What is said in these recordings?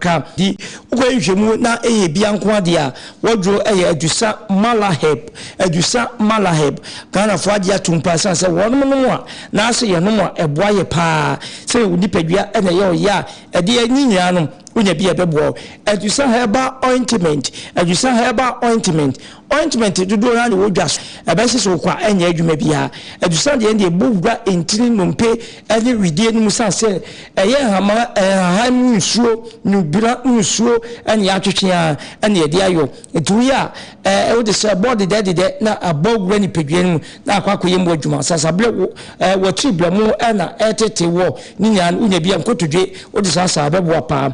ka. Nti wokɔyɛ nhwehwɛmu na ɛyɛ bia nko ara deɛ a, w'aduro yɛ Adusa Malaheb, Adusa Malaheb. Ghanafoɔ agye atom paa ɛsiane sɛ wɔnom nom a, anaasɛ yɛnom a, ɛboa yɛ paa. Sɛdeɛ wo nipadua na ɛyɛ wo ya a, ɛdeɛ ɛnye nyinaa nom, wonya bi a ɛbɛboa wo. Adusa Herbal Ointment, Adusa Herbal Ointment, Ointment dodoɔ no ara na ɛwɔ dwa so. Ɛbɛhye so kwa ɛnyɛ adwuma biara. Adusam deɛ no deɛ ɛbɔ gua ntini, nnompe ne wedeɛ no mu sane sɛ ɛyɛ nhama, nhahan mu nsuo, nwubena mu nsuo na yɛatwetwe ara na yɛde ayɔ. Nti woyɛ a ɛɛ wode sɛ ɛbɔ dedɛ dedɛ na abɔ wura nipadua no mu na akɔ akɔyɛ mu adwuma. Sasaberɛ wo ɛɛ watiri berɛmo na ɛretete woɔ ne nyinaa no wonya bi a nkotodwe wode saasaa a ɛbɛboa paa.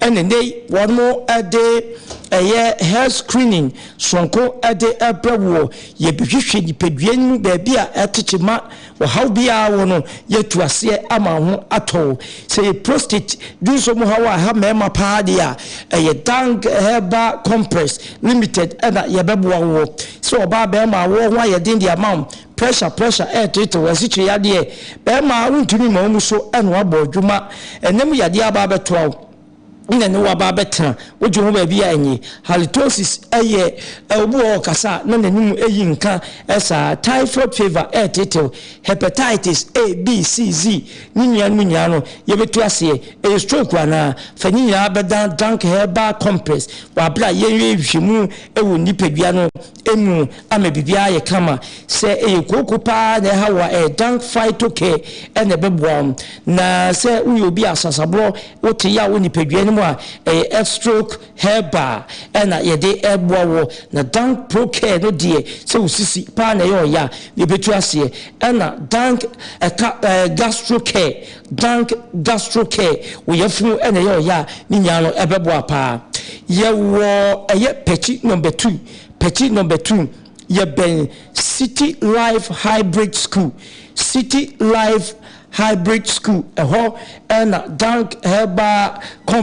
Ɛna nnɛ yi wɔde ɛyɛ health screening soronko de brɛ woɔ. Yɛbɛhwehwɛ nipadua no mu baabi a ɛtete ma ɔhaw biara wɔ no, yɛatu aseɛ ama wo ho atɔ wo. Sɛ ɛyɛ prostate dunso mu haw a ɛha mmarima paa deɛ a, ɛyɛ Dang Herbal Compress Limited na yɛbɛboa woɔ. Sɛ ɔbaa barima a woɔ ho ayɛ den deɛ ama wo, Pressure pressure ɛɛteetew wɔ asikyire yadeɛ bɛɛma a wontumi ma wɔn so ɛnoa bɔ adwuma ɛnam yadeɛ aba abɛtoa wo na ne waba abɛtena wogye ho baabi a ɛnye halitosis ɛyɛ obi wɔ ɔkasa na n'anim ɛyi nka ɛsaa typhoid fever ɛɛteetew hepatitis A B C Z ne nua no nyinaa no yɛbɛtu aseɛ ɛyɛ stroke anaa fa ne nyinaa bɛdan dank herbal compress wɔ abere a yɛn yɛ nhwehwɛmu ɛwɔ nipadua no mu ama biribiara ayɛ kama. Sɛ ɛyɛ kooko paa na ɛha wo a, ɛdan phytocare na ɛbɛboa wo. Na sɛ woyɛ obi a sasaborɔ, wote yaw wɔ nipadua no mu a, ɛyɛ F-Stroke Herbal na yɛde boa wo. Na Dank Procare no deɛ, sɛ wo sisi paa na ɛyɛ ɔya a, ɛbɛtu aseɛ. Ɛna Dank ɛka ɛɛ Gastrocare Dank Gastro Care wo yafunu na ɛyɛ ɔyɛ a ne nyinaa no ɛbɛboa paa yɛwɔ ɛyɛ pɛkyi number two pɛkyi number two yɛbɛn city life hybrid school city life hybrid school ɛhɔ na Dank Herbal Company.